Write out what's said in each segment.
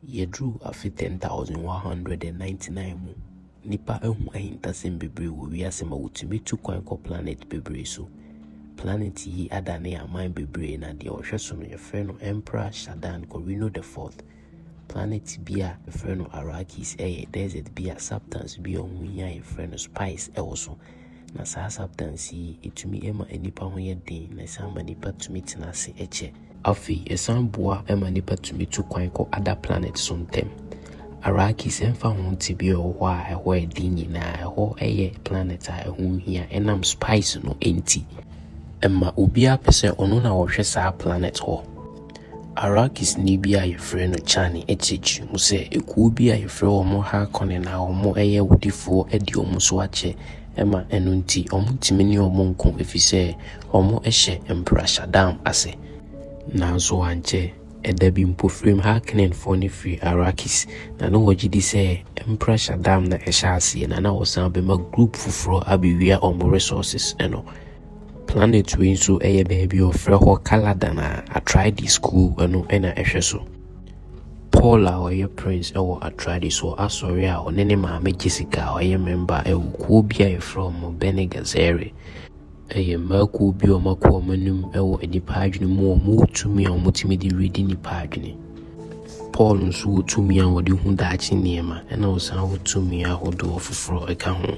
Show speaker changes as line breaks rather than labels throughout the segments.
Yɛduru afe 10199 mu. Nnipa ahu ahintasɛm bebree wɔ wiase ma wɔtumi tu kwan kɔ planet bebree so. Planet yi adane aman bebree na deɛ ɔhwɛ so no yɛfrɛ no Emperor Shaddam Corrino the Fourth. Planet bi a yɛfrɛ no Arrakis yɛ desert bi a substance bi a ɛho hia a yɛfrɛ no spice wɔ so. Na saa subtance yi, ɛtumi ma nnipa ho yɛ den, na ɛsan ma nnipa tumi tena ase kyɛ. Afei, ɛsan boa ma nnipa tumi tu kwan kɔ other planets so ntɛm. Arrakis, ɛmfa ho tebea a ɛwɔ hɔ a ɛhɔ yɛ den nyinaa, ɛhɔ yɛ planet a ɛho hia ɛnam spice no nti. Ɛma obiara pɛ sɛ ɔno na ɔhwɛ saa planet hɔ. Arakisni bi a wɔfrɛ no Chani kyerɛkyerɛ mu sɛ, Ekuo bi a wɔfrɛ wɔn Harkonnen a wɔyɛ awudifoɔ adi wɔn so akyɛ ma ɛno nti wɔntumi ne wɔn nko ɛfiri sɛ wɔhyɛ Mpra Shaddam ase. Nanso ankyɛ, ɛda bi mpofirim Harkonnenfoɔ no firii Arrakis, na na wɔgye di sɛ Mpra Shaddam na ɛhyɛɛ aseɛ na na ɔsan bɛma group foforɔ abɛwia wɔn resources no. Planet wei nso yɛ baabi a wɔfrɛ hɔ Caladan a Atrides kuo no na ɛhwɛ so. Paul a ɔyɛ prince wɔ Atrides wɔ asɔre a ɔne ne maame Jessica a ɔyɛ memba wɔ kuo bi a yɛfrɛ wɔn Bene Gesserit. Ɛyɛ mmaa kuo bi a wɔakɔ wɔn anim wɔ nnipa adwene mu, wɔwɔ tumi a wɔtumi de redi nnipa adwene. Paul nso wɔ tumi a wɔde hu daakye nneɛma, ɛna ɔsan wɔ tumi ahodoɔ foforɔ ɛka ho.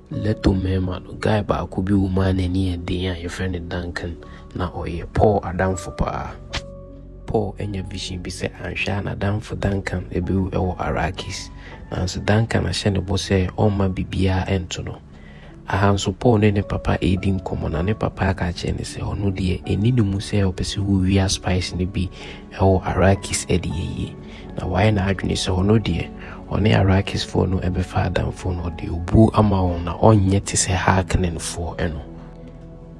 Leto mmarima no, guy baako bi wɔ mu a n'ani yɛ den a yɛfrɛ no Duncan. Na ɔyɛ Paul adamfo paa. Paul anya vision bi sɛ anhwɛ a n'adamfo Duncan bɛwu wɔ Arrakis. Nanso Duncan ahyɛ ne bo sɛ ɔmma biribiara nto no. Aha nso Paul ne ne papa redi nkɔmmɔ na ne papa aka akyerɛ no sɛ ɔno deɛ ɛnni ne mu sɛ ɔpɛ sɛ ɔwia spice no bi wɔ Arrakis de ayie. Na wayɛ n'adwene sɛ ɔno deɛ, ɔne Arakisfoɔ no bɛfa adamfo, na ɔde obuo ama wɔn, na ɔnyɛ te sɛ Haaknenfoɔ no.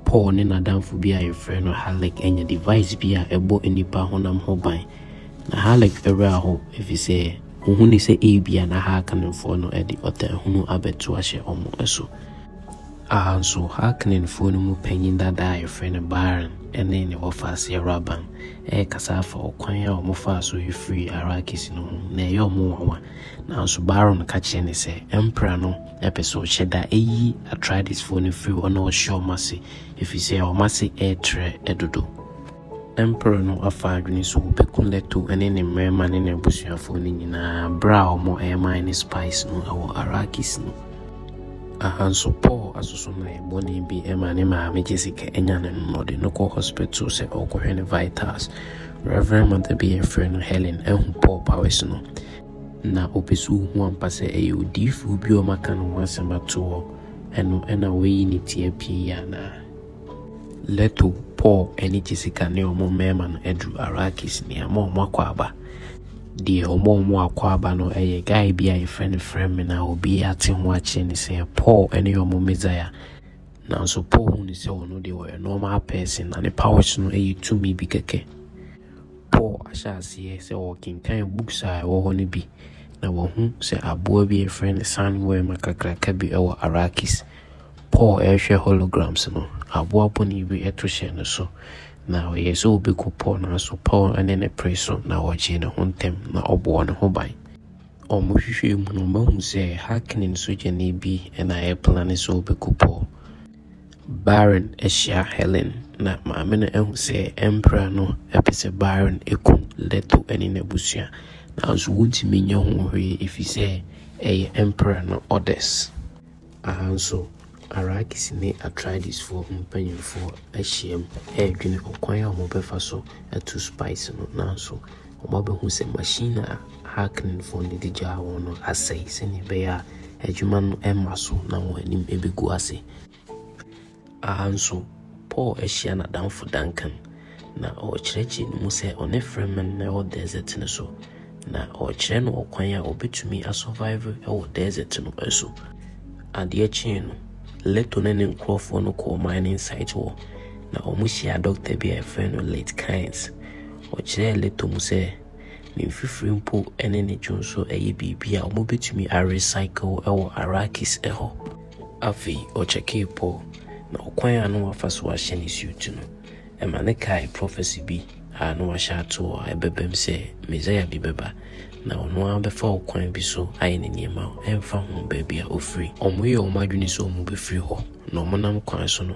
Paul ne n'adamfo bi a yɛfrɛ no Halleck anya device bi a ɛbɔ nnipa honam ho ban. Na Halleck werɛ ahow, efisɛ ohu no sɛ ebia na Haaknenfoɔ no de ɔtaahunu abɛto ahyɛ wɔn so. A Nso, Hakinenfoɔ no mu panyin dada a wɔfrɛ no Baron ne ne wɔfaase Awuraban rekasa afa ɔkwan a wɔfaa so firii Arrakis no ho. Na ɛyɛ wɔn nwanwa. Nanso Baron ka kyerɛ no sɛ, Ɛmpra no pɛ sɛ ɔhyɛ da yi Atreidesfoɔ no firi hɔ na ɔhyɛ wɔn ase, ɛfiri sɛ wɔn ase retrɛ dodo. Emperor no afa adwene so ɔbɛku Leto ne ne mmarima ne n'abusuafoɔ no nyinaa berɛ a wɔreman no spice no wɔ Arrakis no. Aha nso Paul asosɔmmerɛ bɔne bi ma ne maame Jessica nya no no na ɔde no kɔ hospital sɛ ɔrekɔhwɛ ne vitals. Rev. Mother bi a yɛfrɛ no Helen ahu Paul powers no na ɔpɛ sɛ ɔhu ampa sɛ ɛyɛ odiyifoɔ bi a wɔaka ne ho asɛm ato hɔ no na wayi ne ti apue yi anaa. Leto, Paul ne Jessica ne wɔn mmarima no aduru Arrakis, nea ama wɔn akɔ aba. Deɛ wɔma wɔn akɔ aba no yɛ guy bi a yɛfrɛ no Fremen a obi ate ho akyerɛ ne sɛ Paul ne wɔn Messiah. Nanso Paul hu ne sɛ ɔno deɛ ɔyɛ normal person na ne powers no yɛ tumi bi kɛkɛ. Paul ahyɛ aseɛ sɛ ɔrekenkan books a ɛwɔ hɔ no bi na wahu sɛ aboa bi a yɛfrɛ no sandworm kakraka bi wɔ Arrakis. Paul rehwɛ holograms no, aboa bɔne bi to hyɛɛ ne so. Ná ɔyɛɛ sɛ obekum Paul, nanso Paul ne no peree so, na ogyee ne ho ntɛm, na ɔbɔɔ ne ho ban. Wɔhwehwɛɛ mu no, wɔahu sɛ Hackney sogyani bi na ɛreplane sɛ obekum Paul. Byron hyia Helen, na maame no ahu sɛ Emperor no pɛ sɛ Byron kum Leto ne n'abusua, nanso wontumi nyɛ ho hwee efisɛ ɛyɛ Emperor no orders. Aha nso, Arakis ne Atraides-foɔ ho mpanimfoɔ ahyiam redwene ɔkwan a wɔbɛfa so atu Spice no, nanso wɔabɛhu sɛ machine a Harkonnenfoɔ no de gyaa wɔn no asɛe sɛnea ɛbɛyɛ a adwuma no remma so na wɔn anim bɛgu ase. Ara nso, Paul ahyia n'adamfo Duncan, na ɔrekyerɛkyerɛ ne mu sɛ ɔne Freeman na ɛwɔ desert no so, na ɔrekyerɛ no ɔkwan a obetumi asurvive wɔ desert no so. Adeɛ kyee no, Leto ne ne nkurɔfoɔ no kɔɔ mining site hɔ, na wɔhyiaa dɔkta bi a yɛfrɛ no Late Kynes. Ɔkyerɛɛ Leto mu sɛ ne mfifire mpo ne ne dwonsɔ yɛ biribi a wɔbetumi arecycle wɔ Arrakis hɔ. Afei ɔkyɛkee po na ɔkwan a na wafa so ahyɛ ne siuti no. Ɛma no kaee prɔfɛse bi a na wɔahyɛ ato hɔ a ɛbɛbam sɛ Mesia bi bɛba, na ɔno ara bɛfa ɔkwan bi so ayɛ ne nneɛma ɛmfa ho baabi a ɔfiri. Wɔyɛɛ wɔn adwene sɛ wɔbɛfiri hɔ, na wɔnam kwan so no,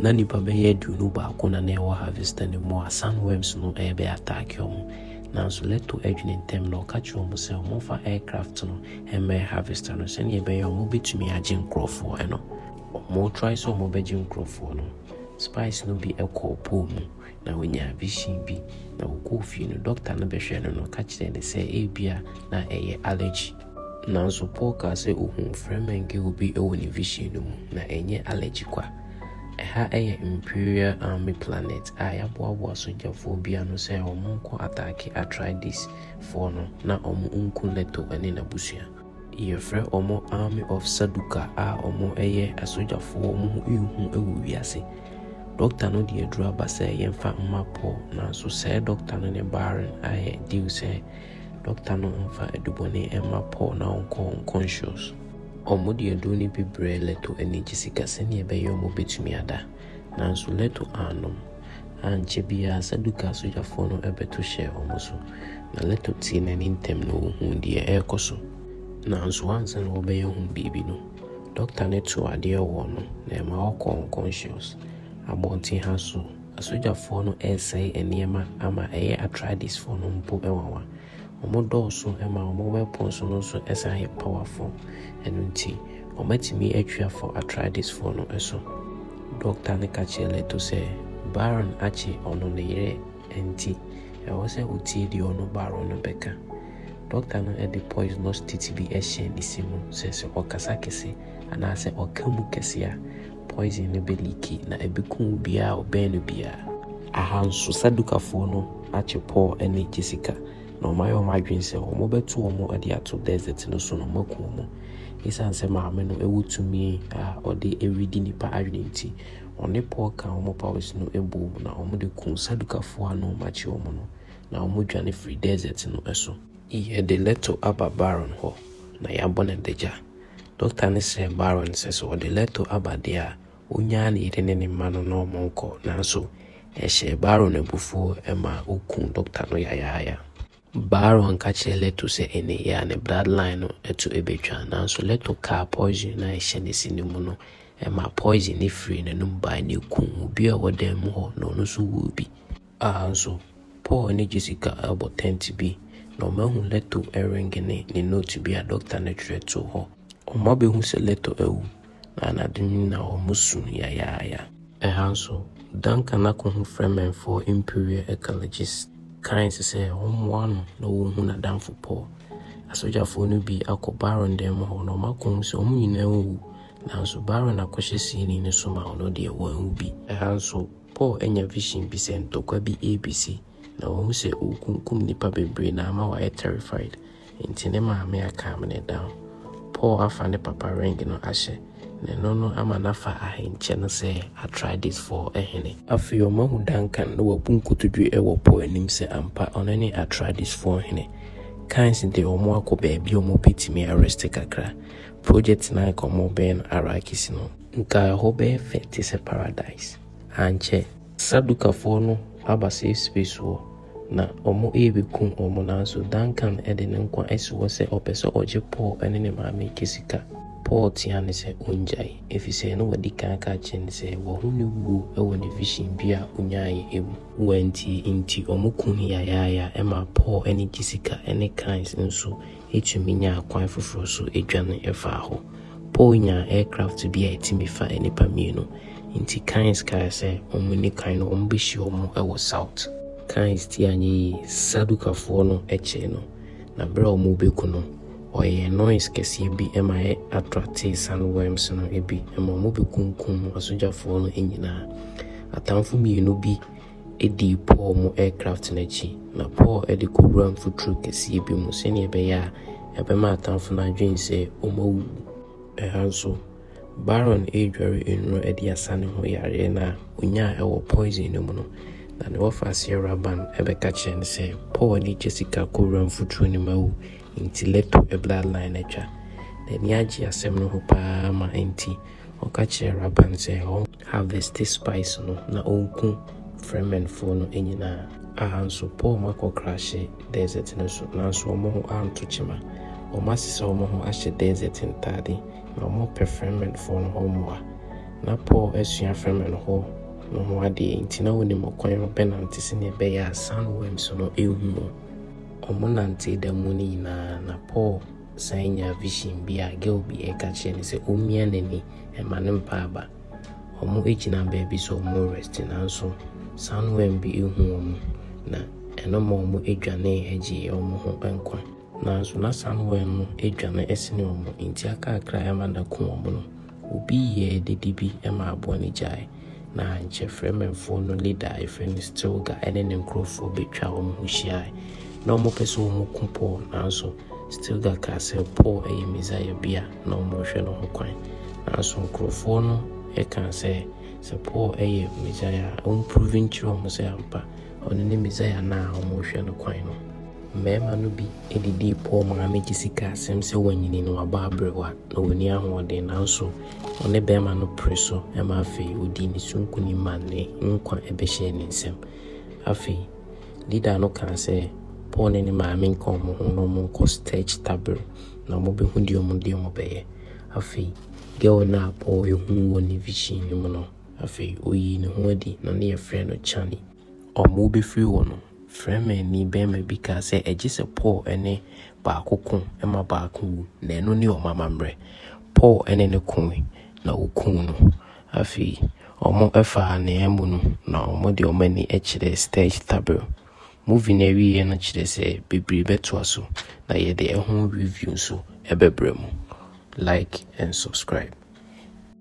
Na nipa bɛyɛ aduonu baako na na ɛwɔ Harvester no mu a sun worms no rebɛ attack wɔn. Nanso Leto dwene ntɛm na ɔka kyerɛ wɔn sɛ wɔmfa aircraft no mmɛn Harvester no sɛnea ɛbɛyɛ a wɔbɛtumi agye nkorɔfoɔ no. Wɔn try sɛ wɔbɛgye nkorɔfoɔ no, spies no bi kɔɔ pool mu na wɔnyaa vision bi na wɔkɔɔ fie no, doctor no bɛhwɛɛ no na ɔka kyerɛɛ no sɛ ebia na ɛyɛ allergy. Nanso Paul kaa sɛ ohu Fremengi obi wɔ ne vision no mu, na ɛnyɛ allergy kwa. Ɛha yɛ Imperial Army Planet a yɛaboaboa sogyafoɔ bi ano sɛ wɔnkɔ ataake Atreides foɔ no na wɔnku Leto ne n'abusua. Yɛfrɛ wɔn Army of Sarduka a wɔyɛ asogyafoɔ a wɔn ho nhu wɔ wiase. Dɔkta no de aduru aba sɛ yɛmfa mma Paul, nanso sɛɛ dɔkta no ne Baron ayɛ deal sɛ Dɔkta no mfa adubɔne mma Paul na ɔnkɔ nkɔnhyɛ so. Wɔde aduru no bi brɛɛ Leto anigye sika sɛnea ɛbɛyɛ wɔbɛtumi ada. Nanso Leto annom. Ankyɛ biara Saduka sogyafoɔ no bɛto hyɛɛ wɔn so, na Leto tee n'ani ntɛm na ɔhuu deɛ ɛrekɔ so. Nanso ansa na wɔbɛyɛ ho biribi no, dɔkta no too adeɛ wɔɔ no na ɛma ɔkɔɔ nkɔnhyɛ so. Abɔnten ha nso, Asogyafoɔ no resɛe nneɛma ama ɛyɛ Atreidesfoɔ no mpo nwanwa. Wɔn dɔɔso ma wɔn weapons no nso san yɛ powerful. Ɛno nti, wɔatumi atwi afɔ Atreidesfoɔ no so. Dɔkta no ka kyerɛɛ Leto sɛ Baron akye ɔno ne yere nti, ɛwɔ sɛ ɔtie deɛ ɔno Baron no bɛka. Dɔkta no de poisonous titi bi hyɛɛ ne se mu sɛ sɛ ɔkasa kɛse anaasɛ ɔka mu kɛse a, Poison no bɛliiki, na ɛbɛku obiara a ɔbɛn no biara. Aha nso, Sadukafoɔ no akye Paul ne Jessica, na wɔayɛ wɔn adwene sɛ wɔbɛto wɔn de ato desert no so na wɔaku wɔn. Ɛsiane sɛ Maame no wɔ tumi a ɔde redi nnipa adwene nti, ɔne Paul kaa wɔn powers no boom na wɔde kuu Sadukafoɔ a na wɔakye wɔn no, na wɔdwane firii desert no so. Yɛde Leto aba Baron hɔ, na yɛabɔ no adagya. Dɔkta no srɛɛ Barron sɛ sɛ ɔde Leto aba deɛ a, ɔnnyaa ne yere ne ne mma no na wɔnkɔ, nanso ɛhyɛɛ Barron abufuo ma ɔkuu dɔkta no yayaaya. Barron ka kyerɛɛ Leto sɛ ɛnne yi a ne bloodline no to bɛtwa, nanso Leto kaa poison no a ɛhyɛ ne se no mu no ma poison no firii n'anom bae na ɛkuu obi a ɔwɔ dan mu hɔ na ɔno nso wuu bi. Aha nso, Paul ne Jessica rebɔ tɛnt bi, na wɔahu Leto ringe ne ne note bi a dɔkta no twerɛ too hɔ. Wɔabɛhu sɛ Leto awu, na anadwo no nyinaa wɔsu yayaaya. Ɛha nso, Duncan ako ho frɛ Mɛnfɔɔ Imperial Ecologists kae nso sɛ wɔmmoa no na wɔnhu n'adamfo Paul. Asogyafoɔ no bi akɔ Baron dan mu hɔ na wɔako hu sɛ wɔn nyinaa awu, nanso Baron akɔhyɛ siini no so ma ɔno deɛ wanwu bi. Ɛha nso, Paul anya vision bi sɛ ntɔkwa bi rebesi na wahu sɛ ɔrekunkum nnipa bebree na ama wayɛ terrified nti ne maame a calm no down. Paul afa ne papa ring no ahyɛ na ɛno no ama no afa ahenkyɛ no sɛ Atreidesfoɔ hene. Afei ɔmahu Duncan na wabu nkotodwe wɔ Paul anim sɛ ampa ɔno ne Atreidesfoɔ hene. Kynes de wɔn akɔ baabi a wɔbɛtumi arest kakra. Project no a anka wɔrebɛyɛ no Arrakis no. Nka ɛhɔ bɛyɛ fɛ te sɛ paradise, ankyɛ? Sadukafoɔ no aba safe space hɔ na wɔrebɛkum wɔn nanso Duncan de ne nkwa asi hɔ sɛ ɔpɛ sɛ ɔgye Paul ne ne maame reka sika. Paul tea no sɛ ɔngyae ɛfisɛ na wadi kan aka akyerɛ no sɛ wahu ne wuo wɔ ne vision bi a ɔnyaeɛ mu. Wantie nti wɔkum no yayaaya ɛmaa Paul ne gye sika ne cans nso Yetumi nya akwan foforo nso dwan faa hɔ. Paul nyaa aircraft bi a etumi fa nnipa mmienu. Enti Kynes kae sɛ wɔnni kan no wɔbehyia wɔn wɔ South. Kynes ti anyɛ yie. Sadukafoɔ no kyee no, na bere a wɔrebɛku no, ɔyɛɛ noise kɛseɛ bi ma ɛ attractee sand worms no bi ma wɔbɛkunkum asogyafoɔ no nyinaa. Atamfo mmienu bi dii Paul mu aircraft no akyi, na Paul de kɔwuraa mfuturo kɛseɛ bi mu sɛdeɛ ɛbɛyɛ a ɛbɛma atamfo no adwene sɛ wɔawuwu. Ɛha nso, Baron redware nnuro de asa ne ho yareɛ no a ɔnyaa wɔ poison no mu no, na ne wɔfaseɛ Rabban bɛka kyerɛ no sɛ Paul de Jessica kɔwuraa mfuturo no mu awu, enti Leto bloodline atwa. N'ani agye asɛm no ho pa ara ma enti ɔka kyerɛɛ Rabban sɛ ɔn. Harveste spice no na ɔnku Fremenfoɔ no nyinaa. A nso Paul ma kɔ krahye desert no so, nanso wɔn ho anto kyema. Wɔn asesa wɔn ho ahyɛ desert ntade, na wɔn pɛ Fremenfoɔ no hɔ mmoa. Na Paul asua Fremenfoɔ no ho adeɛ, enti na ɔnim ɔkwan a ɔbɛnante sɛdeɛ ɛbɛyɛ a sand worms no renhu wɔn. Wɔn nantee da mu no nyinaa, na Paul. San nyaa vision bi a girl bi ɛka kyerɛ no sɛ ɔmmia n'ani ɛma no mpa aba. Wɔn ɛgyina baabi sɛ wɔn rest nanso sandworm bi ɛhu wɔn na ɛno ma wɔn ɛdwanee ɛgyee wɔn ho nkwa. Nanso na sandworm no ɛdwane ɛsene wɔn nti akaakra ɛma no aku wɔn no. Obi yɛɛ dede bi ma aboa no gyae, na ankyɛ Fremenfoɔ no leader a yɛfrɛ no Stilga ne ne nkorɔfoɔ bɛtwaa wɔn ho hyiae. Na wɔpɛ sɛ wɔku Paul, nanso Stilga kaa sɛ Paul yɛ Mesaia bi a na wɔrehwɛ no ho kwan. Nanso nkorɔfoɔ no kaa sɛ, sɛ Paul yɛ Mesaia a, ɔmprove nkyerɛ wɔn sɛ ampa ɔno ne Mesaia no a wɔrehwɛ no kwan no. Mmarima no bi de dii pɔw maa migye sika asɛm sɛ wanyini na wabɔ aberewa na onni ahoɔden nanso ɔne barima no pere so ma afei odii ne so nkonim ma ne nkwa bɛhyɛɛ ne nsam. Afei leader no kaa sɛ Paul ne ne maame nka wɔn ho na wɔnkɔ Stege Tabere na wɔbehu deɛ wɔn deɛ wɔbɛyɛ. Afei girl no a Paul ehu wɔ ne vision no mu no afei oyii ne ho adi na ne yɛfrɛ no Chani. wɔbɛfiri hɔ no, Fremenni barima bi kaa sɛ, Ɛgye sɛ Paul ne baako ko ma baako wu, na ɛno ne wɔn amammerɛ. Paul ne no koe, na wɔkumm no. Afei wɔfaa ne amu no, na wɔde wɔn ani kyerɛɛ Stage Tabor. Movie no awieeɛ no kyerɛ sɛ bebree bɛtoa so, na yɛde ɛho review nso bɛbrɛ mo. Like and subscribe.